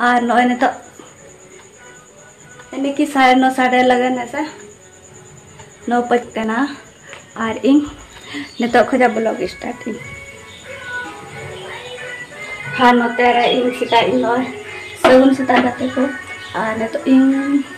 ᱟᱨ ᱱᱚᱜᱼᱚᱭ ᱱᱤᱛᱚᱜ ᱮᱱᱮ ᱠᱤ ᱥᱟᱲᱮ ᱱᱚ ᱥᱟᱲᱮ ᱞᱟᱜᱟᱱ ᱦᱮᱸᱥᱮ ᱱᱚ ᱯᱟᱸᱪ ᱠᱟᱱᱟ ᱟᱨ ᱤᱧ ᱱᱤᱛᱚᱜ ᱠᱷᱚᱡᱟᱜ ᱵᱞᱚᱜ ᱥᱴᱟᱨᱴ ᱤᱧ ᱟᱨ ᱱᱚᱛᱮ ᱨᱮ ᱤᱧ ᱥᱮᱛᱟᱜ ᱤᱧ ᱱᱚᱜᱼᱚᱭ ᱥᱟᱹᱜᱩᱱ ᱥᱮᱛᱟᱜ ᱜᱟᱛᱮ ᱠᱚ ᱟᱨ ᱱᱤᱛᱚᱜ ᱤᱧ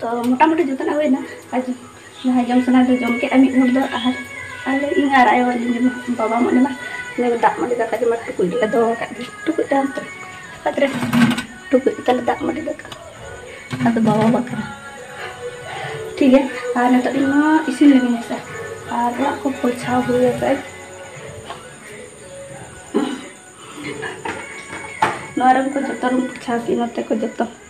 ᱛᱚ ᱢᱚᱴᱟᱢᱩᱴᱤ ᱡᱚᱛᱚᱱᱟᱜ ᱦᱩᱭᱱᱟ ᱟᱨ ᱡᱟᱦᱟᱸᱭ ᱡᱚᱢ ᱥᱟᱱᱟ ᱫᱚ ᱡᱚᱢ ᱠᱮᱫᱼᱟ ᱢᱤᱫ ᱦᱚᱲ ᱫᱚ ᱟᱨ ᱟᱞᱮ ᱤᱧ ᱟᱨ ᱟᱭᱳ ᱟᱹᱞᱤᱧ ᱡᱚᱢᱟ ᱵᱟᱵᱟ ᱢᱚᱱᱮ ᱢᱟ ᱩᱱᱤ ᱫᱚ ᱫᱟᱜ ᱢᱟᱹᱰᱤ ᱫᱟᱠᱟ ᱡᱚᱢᱟ ᱴᱩᱠᱩᱡ ᱨᱮ ᱫᱚᱦᱚ ᱟᱠᱟᱫ ᱜᱮ ᱴᱩᱠᱩᱡ ᱛᱟᱦᱮᱱ ᱛᱚ ᱚᱠᱟᱛ ᱨᱮ ᱴᱩᱠᱩᱡ ᱛᱟᱞᱮ ᱫᱟᱜ ᱢᱟᱹᱰᱤ ᱫᱟᱠᱟ ᱟᱫᱚ ᱵᱟᱵᱟ ᱵᱟᱠᱷᱨᱟ ᱴᱷᱤᱠ ᱜᱮᱭᱟ ᱟᱨ ᱱᱤᱛᱚᱜ ᱤᱧ ᱢᱟ ᱤᱥᱤᱱ ᱞᱟᱹᱜᱤᱫ ᱦᱮᱸᱥᱮ ᱟᱨ ᱚᱲᱟᱜ ᱠᱚ ᱯᱚᱪᱷᱟᱣ ᱦᱩᱭ ᱟᱠᱟᱫ ᱱᱚᱣᱟ ᱨᱩᱢ ᱠᱚ ᱡᱚᱛᱚ ᱨᱩᱢ ᱯᱚᱪᱷᱟᱣ ᱠᱮᱫ ᱱᱚᱛᱮ ᱠᱚ ᱡᱚᱛᱚ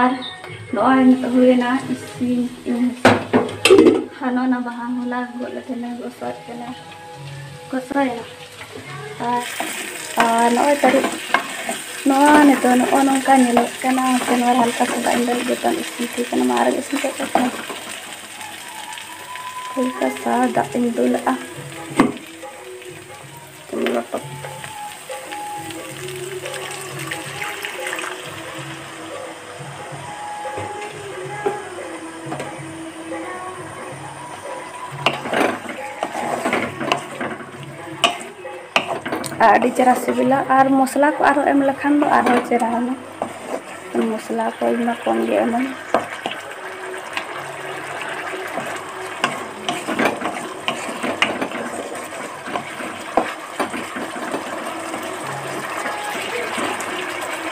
ᱟᱨ ᱱᱚᱜᱼᱚᱭ ᱱᱤᱛᱚᱜ ᱦᱩᱭᱮᱱᱟ ᱤᱥᱤᱱ ᱟᱨ ᱱᱚᱜᱼᱚᱭ ᱱᱟ ᱵᱟᱦᱟ ᱦᱚᱞᱟ ᱜᱚᱫ ᱞᱮ ᱛᱟᱦᱮᱱᱟ ᱜᱚᱥᱚᱭᱮᱫ ᱛᱟᱦᱮᱱᱟ ᱜᱚᱥᱚᱭᱮᱱᱟ ᱟᱨ ᱟᱨ ᱱᱚᱜᱼᱚᱭ ᱛᱟᱹᱨᱩᱵ ᱱᱚᱣᱟ ᱱᱤᱛᱚᱜ ᱱᱚᱜᱼᱚ ᱱᱚᱝᱠᱟ ᱧᱮᱞᱚᱜ ᱠᱟᱱᱟ ᱥᱮ ᱱᱚᱣᱟ ᱦᱟᱞᱠᱟ ᱥᱟᱫᱟ ᱤᱧ ᱞᱟᱹᱜᱤᱫ ᱡᱚᱛᱚ ᱤᱥᱤᱱ ᱴᱷᱤᱠ ᱠᱟᱱᱟ ᱢᱟ ᱟᱨᱚ ᱤᱥᱤᱱ ᱠᱟᱛᱮ ᱦᱟᱞᱠᱟ ᱥᱟ ᱫᱟᱜ ᱤᱧ ᱫᱩᱞᱟᱜᱼᱟ ᱟᱹᱰᱤ ᱪᱮᱦᱨᱟ ᱥᱤᱵᱤᱞᱟ ᱟᱨ ᱢᱚᱥᱞᱟ ᱠᱚ ᱟᱨᱦᱚᱸ ᱮᱢ ᱞᱮᱠᱷᱟᱱ ᱫᱚ ᱟᱨᱦᱚᱸ ᱪᱮᱦᱨᱟᱜᱼᱟ ᱢᱚᱥᱞᱟ ᱠᱚ ᱤᱧ ᱢᱟ ᱠᱚᱢ ᱜᱮ ᱮᱢᱟᱹᱧ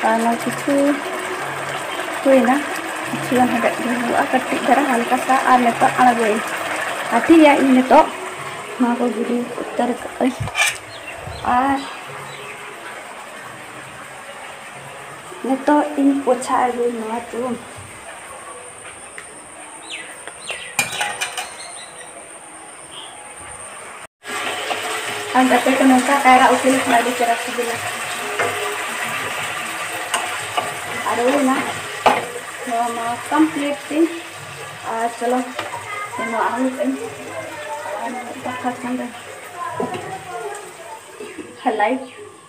ᱟᱨ ᱱᱚᱣᱟ ᱠᱤᱪᱷᱩ ᱦᱩᱭᱱᱟ ᱠᱤᱪᱷᱩ ᱜᱟᱱ ᱦᱮᱰᱮᱡ ᱜᱮ ᱦᱩᱭᱩᱜᱼᱟ ᱠᱟᱹᱴᱤᱡ ᱫᱷᱟᱨᱟ ᱦᱟᱞᱠᱟ ᱥᱟ ᱟᱨ ᱱᱤᱛᱚᱜ ᱟᱬᱜᱚᱭᱟᱹᱧ ᱟᱨ ᱴᱷᱤᱠ ᱜᱮᱭᱟ ᱤᱧ ᱱᱤᱛᱚᱜ ᱱᱚᱣᱟ ᱠᱚ ᱜᱤᱰᱤ ᱩᱛᱟᱹᱨ ᱠᱟᱜᱼᱟᱹᱧ ᱟᱨ ᱱᱤᱛᱚᱜ ᱤᱧ ᱯᱚᱪᱷᱟ ᱟᱹᱜᱩᱭ ᱱᱚᱣᱟ ᱛᱚ ᱟᱨ ᱟᱯᱮ ᱠᱚ ᱱᱚᱝᱠᱟ ᱠᱟᱭᱨᱟ ᱩᱛᱩ ᱞᱮᱠᱷᱟᱱ ᱟᱹᱰᱤ ᱪᱮᱦᱨᱟ ᱥᱤᱵᱤᱞᱟ ᱟᱨ ᱦᱩᱭᱱᱟ ᱱᱚᱣᱟ ᱢᱟ ᱠᱚᱢᱯᱞᱤᱴ ᱛᱤᱧ ᱟᱨ ᱪᱚᱞᱚ ᱱᱚᱣᱟ ᱟᱹᱜᱩ ᱠᱟᱹᱧ ᱟᱨ ᱫᱟᱠᱟ ᱪᱚᱸᱫᱟᱭ ᱦᱮᱞᱟᱭ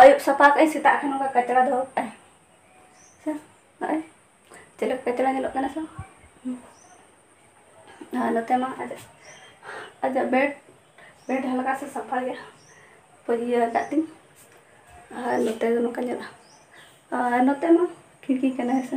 ᱟᱹᱭᱩᱵ ᱥᱟᱯᱷᱟ ᱠᱟᱜ ᱟᱹᱧ ᱥᱮᱛᱟᱜ ᱠᱷᱟᱱ ᱱᱚᱝᱠᱟ ᱠᱟᱪᱲᱟ ᱫᱚᱦᱚ ᱠᱟᱜ ᱟᱹᱧ ᱥᱮ ᱱᱚᱜᱼᱚᱭ ᱪᱮᱫ ᱞᱮᱠᱟ ᱠᱟᱪᱲᱟ ᱧᱮᱞᱚᱜ ᱠᱟᱱᱟ ᱥᱮ ᱟᱨ ᱱᱚᱛᱮ ᱢᱟ ᱟᱡᱟᱜ ᱟᱡᱟᱜ ᱵᱮᱰ ᱵᱮᱰ ᱦᱟᱞᱠᱟ ᱥᱮ ᱥᱟᱯᱷᱟ ᱜᱮᱭᱟ ᱤᱭᱟᱹ ᱟᱠᱟᱫ ᱛᱤᱧ ᱟᱨ ᱱᱚᱛᱮ ᱫᱚ ᱱᱚᱝᱠᱟ ᱧᱮᱞᱚᱜᱼᱟ ᱟᱨ ᱱᱚᱛᱮ ᱢᱟ ᱠᱷᱤᱲᱠᱤ ᱠᱟᱱᱟ ᱦᱮᱸ ᱥᱮ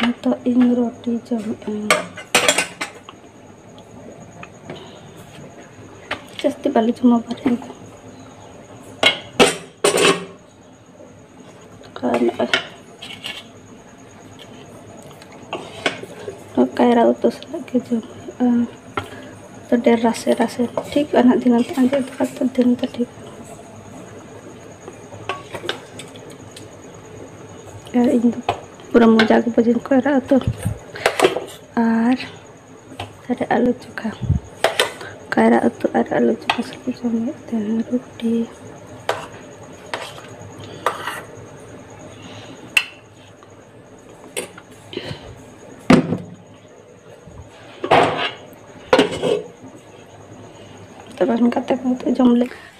ᱱᱤᱛᱚᱜ ᱤᱧ ᱨᱩᱴᱤ ᱡᱚᱢᱮᱫᱟᱹᱧ ᱡᱟᱹᱥᱛᱤ ᱵᱟᱞᱮ ᱡᱚᱢᱟ ᱵᱟᱨᱦᱮ ᱫᱚ ᱠᱟᱭᱨᱟ ᱩᱛᱩ ᱥᱟᱞᱟᱜ ᱜᱮ ᱡᱚᱢ ᱦᱩᱭᱩᱜᱼᱟ ᱰᱮᱨ ᱨᱟᱥᱮ ᱨᱟᱥᱮ ᱴᱷᱤᱠ ᱟᱱᱟᱜ ᱫᱤᱱᱟᱹᱢ ᱛᱮ ᱟᱸᱡᱮᱫ ᱫᱚ ᱫᱤᱱ ᱫᱚ ᱴᱷᱤᱠ ᱟᱨ ᱤᱧ ᱫᱚ ᱯᱩᱨᱟᱹ ᱢᱚᱡᱟ ᱜᱮ ᱵᱷᱟᱹᱡᱤ ᱠᱚ ᱮᱨᱟᱜᱼᱟ ᱛᱚ ᱟᱨ ᱛᱟᱦᱚᱞᱮ ᱟᱹᱞᱩ ᱪᱚᱠᱷᱟ ᱠᱟᱭᱨᱟ ᱩᱛᱩ ᱟᱨ ᱟᱹᱞᱩ ᱪᱚᱠᱷᱟ ᱥᱟᱛᱮ ᱡᱚᱢ ᱦᱩᱭᱩᱜ ᱛᱟᱦᱮᱱ ᱨᱩᱴᱤ ᱛᱚᱵᱮ ᱚᱱᱠᱟᱛᱮ ᱡᱚᱢ ᱞᱮ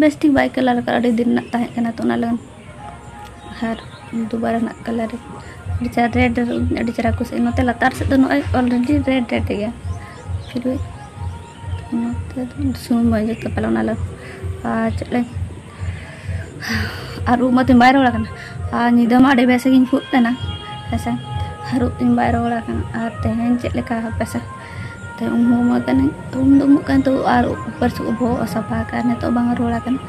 ᱵᱮᱥ ᱴᱷᱤᱠ ᱵᱟᱭ ᱠᱟᱞᱟᱨ ᱟᱠᱟᱫ ᱟᱹᱰᱤ ᱫᱤᱱ ᱨᱮᱱᱟᱜ ᱛᱟᱦᱮᱸ ᱠᱟᱱᱟ ᱛᱚ ᱚᱱᱟ ᱞᱟᱹᱜᱤᱫ ᱟᱨ ᱫᱩᱵᱟᱨᱟ ᱨᱮᱱᱟᱜ ᱠᱟᱞᱟᱨ ᱟᱹᱰᱤ ᱪᱮᱦᱨᱟ ᱨᱮᱰ ᱟᱹᱰᱤ ᱪᱮᱦᱨᱟ ᱠᱩᱥᱤᱭᱟᱜᱼᱟ ᱱᱚᱛᱮ ᱞᱟᱛᱟᱨ ᱥᱮᱫ ᱫᱚ ᱱᱚᱜᱼᱚᱭ ᱚᱞᱨᱮᱰᱤ ᱨᱮᱰ ᱨᱮᱰ ᱜᱮᱭᱟ ᱯᱷᱤᱨ ᱱᱚᱛᱮ ᱫᱚ ᱥᱩᱱᱩᱢ ᱵᱟᱭ ᱡᱩᱛ ᱯᱟᱞᱮ ᱚᱱᱟ ᱞᱟᱹᱜᱤᱫ ᱟᱨ ᱪᱮᱫ ᱞᱟᱹᱭ ᱟᱨ ᱩᱵ ᱢᱟᱛᱤᱧ ᱵᱟᱭ ᱨᱚᱦᱚᱲ ᱟᱠᱟᱱᱟ ᱟᱨ ᱧᱤᱫᱟᱹ ᱢᱟ ᱟᱹᱰᱤ ᱵᱮᱥ ᱜᱤᱧ ᱠᱷᱩᱜ ᱠᱟᱱᱟ ᱦᱮᱸᱥᱮ ᱟᱨ ᱩᱵ ᱛᱤᱧ ᱵᱟᱭ ᱨᱚᱦᱚᱲ ᱟᱠᱟᱱᱟ ᱟᱨ ᱛᱮᱦᱮᱧ ᱪᱮᱫ ᱞᱮᱠᱟ ᱦᱟᱯᱮᱥᱮ ᱛᱚ ᱩᱢ ᱦᱚᱸ ᱩᱢᱩᱜ ᱠᱟᱹᱱᱟᱹᱧ ᱛᱚ ᱩᱢ ᱫᱚ ᱩᱢᱩᱜ ᱠᱟᱱ ᱛᱚ ᱟᱨ ᱩᱯᱟᱹᱥ ᱵᱚᱦᱚᱜ ᱦᱚᱸ ᱥᱟᱯᱷᱟ ᱠᱟᱜᱼᱟ ᱱᱤᱛᱚᱜ ᱵᱟᱝ ᱨᱩᱣᱟᱹᱲ ᱟᱠᱟᱱᱟ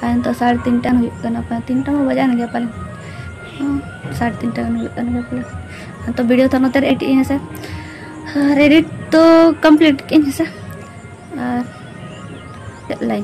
ᱟᱨ ᱱᱤᱛᱚᱜ ᱥᱟᱲᱮ ᱛᱤᱱᱴᱟ ᱜᱟᱱ ᱦᱩᱭᱩᱜ ᱠᱟᱱᱟ ᱯᱟᱞᱮᱱ ᱛᱤᱱᱴᱟ ᱢᱟ ᱵᱟᱡᱟᱣᱮᱱ ᱜᱮᱭᱟ ᱯᱟᱞᱮᱱ ᱥᱟᱲᱮ ᱛᱤᱱᱴᱟ ᱜᱟᱱ ᱦᱩᱭᱩᱜ ᱠᱟᱱ ᱜᱮᱭᱟ ᱯᱟᱞᱮᱱ ᱛᱚ ᱵᱷᱤᱰᱤᱭᱳ ᱛᱚ ᱱᱚᱛᱮ ᱨᱮ ᱮᱰᱤᱴ ᱤᱧ ᱦᱮᱸᱥᱮ ᱟᱨ ᱮᱰᱤᱴ ᱛᱚ ᱠᱚᱢᱯᱞᱤᱴ ᱠᱮᱫ ᱟᱹᱧ ᱦᱮᱸᱥᱮ ᱟᱨ ᱪᱮᱫ ᱞᱟᱹᱭ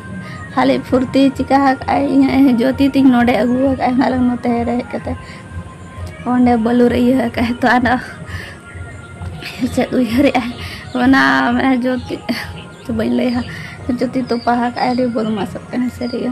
ᱠᱷᱟᱹᱞᱤ ᱯᱷᱩᱨᱛᱤ ᱪᱤᱠᱟ ᱟᱠᱟᱫᱟᱭ ᱤᱧᱟᱹᱜ ᱡᱚᱛᱤ ᱛᱤᱧ ᱱᱚᱰᱮ ᱟᱹᱜᱩ ᱟᱠᱟᱫᱟᱭ ᱚᱱᱟ ᱞᱟᱹᱜᱤᱫ ᱱᱚᱛᱮ ᱨᱮ ᱦᱮᱡ ᱠᱟᱛᱮ ᱚᱸᱰᱮ ᱵᱟᱹᱞᱩᱨᱮ ᱤᱭᱟᱹ ᱟᱠᱟᱫᱟᱭ ᱛᱚ ᱟᱫᱚ ᱪᱮᱫ ᱩᱭᱦᱟᱹᱨᱮᱜᱼᱟᱭ ᱚᱱᱟ ᱢᱟᱱᱮ ᱡᱚᱛᱤ ᱵᱟᱹᱧ ᱞᱟᱹᱭᱟ ᱡᱚᱛᱤ ᱛᱚᱯᱟ ᱟᱠᱟᱫᱟᱭ ᱟᱹᱰᱤ ᱵᱚᱫᱢᱟᱥᱚᱜ ᱠᱟᱱᱟᱭ ᱥᱟᱹᱨᱤᱜᱮ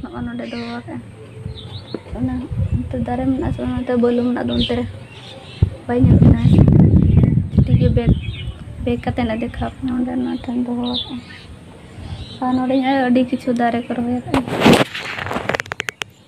ᱱᱚᱜᱼᱚ ᱱᱚᱰᱮ ᱫᱚᱦᱚ ᱟᱠᱟᱫᱼᱟ ᱚᱱᱟ ᱚᱱᱛᱮ ᱫᱟᱨᱮ ᱢᱮᱱᱟᱜᱼᱟ ᱥᱮ ᱚᱱᱟᱛᱮ ᱵᱟᱹᱞᱩ ᱢᱮᱱᱟᱜ ᱫᱚ ᱚᱱᱛᱮ ᱨᱮ ᱵᱟᱭ ᱧᱮᱞᱚᱜ ᱠᱟᱱᱟ ᱴᱷᱤᱠ ᱜᱮ ᱵᱮᱜᱽ ᱵᱮᱜᱽ ᱠᱟᱛᱮ ᱞᱮ ᱫᱮᱠᱷᱟᱣ ᱠᱟᱱᱟ ᱚᱸᱰᱮ ᱚᱱᱟ ᱴᱷᱮᱱ ᱫᱚᱦᱚ ᱟᱠᱟᱫᱼᱟ ᱟᱨ ᱱᱚᱰᱮ ᱟᱹᱰᱤ ᱠᱤᱪᱷᱩ ᱫᱟᱨᱮ ᱠᱚ ᱨᱚᱦᱚᱭ ᱟᱠᱟᱫᱼᱟ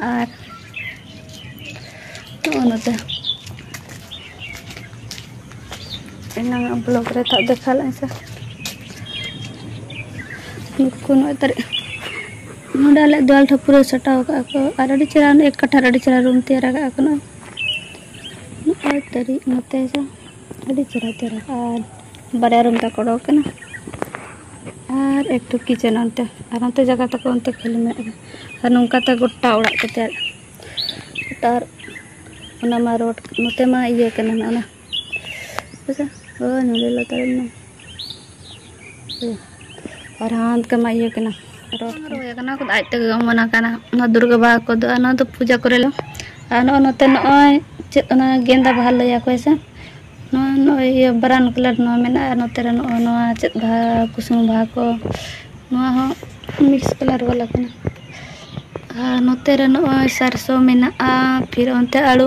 ᱟᱨ ᱱᱚᱜᱼᱚ ᱱᱚᱛᱮ ᱮᱱᱟᱝ ᱟᱜ ᱵᱞᱚᱜ ᱨᱮ ᱛᱟᱜ ᱫᱮᱠᱷᱟᱣ ᱞᱮᱫ ᱥᱮ ᱱᱩᱠᱩ ᱠᱚ ᱱᱚᱜᱼᱚᱭ ᱛᱟᱨᱮ ᱱᱚᱰᱮ ᱟᱞᱮ ᱫᱮᱣᱟᱞ ᱴᱷᱮᱱ ᱯᱩᱨᱟᱹ ᱥᱟᱴᱟᱣ ᱠᱟᱜᱼᱟ ᱠᱚ ᱟᱨ ᱟᱹᱰᱤ ᱪᱮᱦᱨᱟ ᱮᱠ ᱠᱟᱴᱷᱟ ᱨᱮ ᱟᱹᱰᱤ ᱪᱮᱦᱨᱟ ᱨᱩᱢ ᱛᱮᱭᱟᱨ ᱠᱟᱜᱼᱟ ᱠᱚ ᱱᱚᱜᱼᱚᱭ ᱱᱚᱜᱼᱚᱭ ᱛᱟᱹᱨᱤᱡ ᱱᱚᱛᱮ ᱫᱚ ᱟᱹᱰᱤ ᱪᱮᱦᱨᱟ ᱪᱮᱦᱨᱟ ᱟᱨ ᱵᱟᱨᱭᱟ ᱨᱩᱢ ᱛᱟᱠᱚ ᱚᱰᱚᱠ ᱠᱟᱱᱟ ᱟᱨ ᱮᱠᱴᱩ ᱠᱤᱪᱮᱱ ᱚᱱᱛᱮ ᱟᱨ ᱚᱱᱛᱮ ᱡᱟᱭᱜᱟ ᱛᱟᱠᱚ ᱚᱱᱛᱮ ᱠᱷᱟᱹᱞᱤ ᱢᱮᱱᱟᱜ ᱜᱮᱭᱟ ᱟᱨ ᱱᱚᱝᱠᱟ ᱛᱮ ᱜᱚᱴᱟ ᱚᱲᱟᱜ ᱠᱚ ᱛᱮᱭᱟᱨ ᱟᱨ ᱚᱱᱟ ᱢᱟ ᱨᱳᱰ ᱱᱚᱛᱮ ᱢᱟ ᱤᱭᱟᱹ ᱠᱟᱱᱟ ᱚᱱᱟ ᱟᱪᱪᱷᱟ ᱦᱳᱭ ᱱᱚᱰᱮ ᱞᱟᱛᱟᱨ ᱨᱮ ᱢᱮᱱᱟᱜᱼᱟ ᱯᱨᱚᱫᱷᱟᱱ ᱠᱟᱢᱟ ᱤᱭᱟᱹ ᱠᱟᱱᱟ ᱨᱚᱰ ᱨᱚᱭ ᱠᱟᱱᱟ ᱠᱚ ᱟᱡ ᱛᱮᱜᱮ ᱚᱢᱚᱱᱟ ᱠᱟᱱᱟ ᱚᱱᱟ ᱫᱩᱨᱜᱟ ᱵᱟᱦᱟ ᱠᱚ ᱫᱚ ᱚᱱᱟ ᱫᱚ ᱯᱩᱡᱟ ᱠᱚᱨᱮ ᱞᱮ ᱟᱨ ᱱᱚᱜᱼᱚᱭ ᱱᱚᱛᱮ ᱱᱚᱜᱼᱚᱭ ᱪᱮᱫ ᱚᱱᱟ ᱜᱮᱸᱫᱟ ᱵᱟᱦᱟ ᱞᱟᱹᱭᱟ ᱠᱚ ᱥᱮ ᱱᱚᱣᱟ ᱱᱚᱜᱼᱚᱭ ᱤᱭᱟᱹ ᱵᱨᱟᱣᱩᱱ ᱠᱟᱞᱟᱨ ᱱᱚᱣᱟ ᱢᱮᱱᱟᱜᱼᱟ ᱟᱨ ᱱᱚᱛᱮ ᱨᱮ ᱱᱚᱜᱼᱚᱭ ᱱᱚᱣᱟ ᱪᱮᱫ ᱵᱟᱦᱟ ᱠᱩᱥᱩᱢ ᱵᱟᱦᱟ ᱠᱚ ᱱᱚᱣᱟ ᱦᱚᱸ ᱢᱤᱠᱥ ᱠᱟᱞᱟᱨ ᱵᱟᱞᱟ ᱠᱟᱱᱟ ᱟᱨ ᱱᱚᱛᱮ ᱨᱮ ᱱᱚᱜᱼᱚᱭ ᱥᱟᱨᱥᱚ ᱢᱮᱱᱟᱜᱼᱟ ᱯᱷᱤᱨ ᱚᱱᱛᱮ ᱟᱹᱞᱩ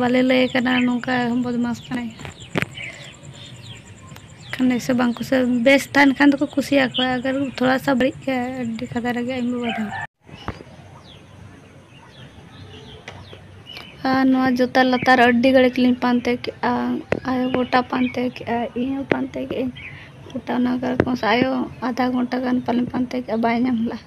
ᱵᱟᱞᱮ ᱞᱟᱹᱭ ᱠᱟᱱᱟ ᱱᱚᱝᱠᱟ ᱵᱚᱫᱢᱟᱥ ᱠᱟᱱᱟᱭ ᱠᱷᱟᱱ ᱥᱮ ᱵᱟᱝ ᱠᱩᱥᱤ ᱵᱮᱥ ᱛᱟᱦᱮᱱ ᱠᱷᱟᱱ ᱫᱚᱠᱚ ᱠᱩᱥᱤᱭᱟᱠᱚᱣᱟ ᱟᱜᱟᱨ ᱛᱷᱚᱲᱟ ᱥᱟ ᱵᱟᱹᱲᱤᱡ ᱠᱷᱟᱱ ᱟᱹᱰᱤ ᱠᱟᱫᱟ ᱨᱮᱜᱮ ᱟᱭᱢᱟ ᱵᱟᱫᱷᱟ ᱟᱨ ᱱᱚᱣᱟ ᱡᱚᱛᱟ ᱞᱟᱛᱟᱨ ᱟᱹᱰᱤ ᱜᱷᱟᱹᱲᱤᱡ ᱞᱤᱧ ᱯᱟᱱᱛᱮ ᱠᱮᱜᱼᱟ ᱟᱭᱳ ᱜᱚᱴᱟ ᱯᱟᱱᱛᱮ ᱠᱮᱜᱼᱟ ᱤᱧ ᱦᱚᱸ ᱯᱟᱱᱛᱮ ᱠᱮᱜᱼᱟᱹᱧ ᱜᱚᱴᱟ ᱚᱱᱟ ᱠᱚᱨᱮ ᱠᱚ ᱟᱭᱳ ᱟᱫᱷᱟ ᱜᱷᱚᱱᱴᱟ ᱜᱟᱱ ᱯᱟᱞᱮᱧ ᱯᱟᱱᱛᱮ ᱠᱮᱜᱼᱟ ᱵᱟᱭ ᱧᱟᱢ ᱞᱮᱜᱼᱟ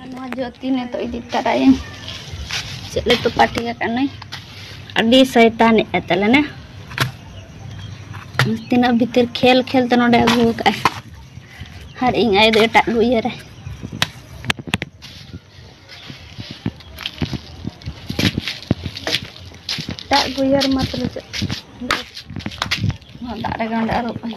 ᱟᱨ ᱱᱚᱣᱟ ᱡᱚᱛᱤ ᱱᱤᱛᱚᱜ ᱤᱫᱤ ᱛᱟᱨᱟᱭᱟᱹᱧ ᱪᱮᱫ ᱞᱮ ᱛᱚᱯᱟᱴᱤ ᱟᱠᱟᱱᱟᱭ ᱟᱹᱰᱤ ᱥᱚᱭᱛᱟᱱᱮᱫ ᱛᱟᱞᱮᱱᱟ ᱛᱤᱱᱟᱹᱜ ᱵᱷᱤᱛᱤᱨ ᱠᱷᱮᱞ ᱠᱷᱮᱞ ᱛᱮ ᱱᱚᱰᱮ ᱟᱹᱜᱩ ᱟᱠᱟᱫᱼᱟᱭ ᱟᱨ ᱤᱧ ᱟᱭ ᱫᱚ ᱮᱴᱟᱜ ᱜᱮ ᱩᱭᱦᱟᱹᱨᱟᱭ ᱮᱴᱟᱜ ᱜᱮ ᱩᱭᱦᱟᱹᱨ ᱢᱟ ᱛᱟᱦᱞᱮ ᱪᱮᱫ ᱱᱚᱣᱟ ᱫᱟᱜ ᱨᱮᱜᱮ ᱚᱸᱰᱮ ᱟᱹᱨᱩᱵ ᱟᱹᱧ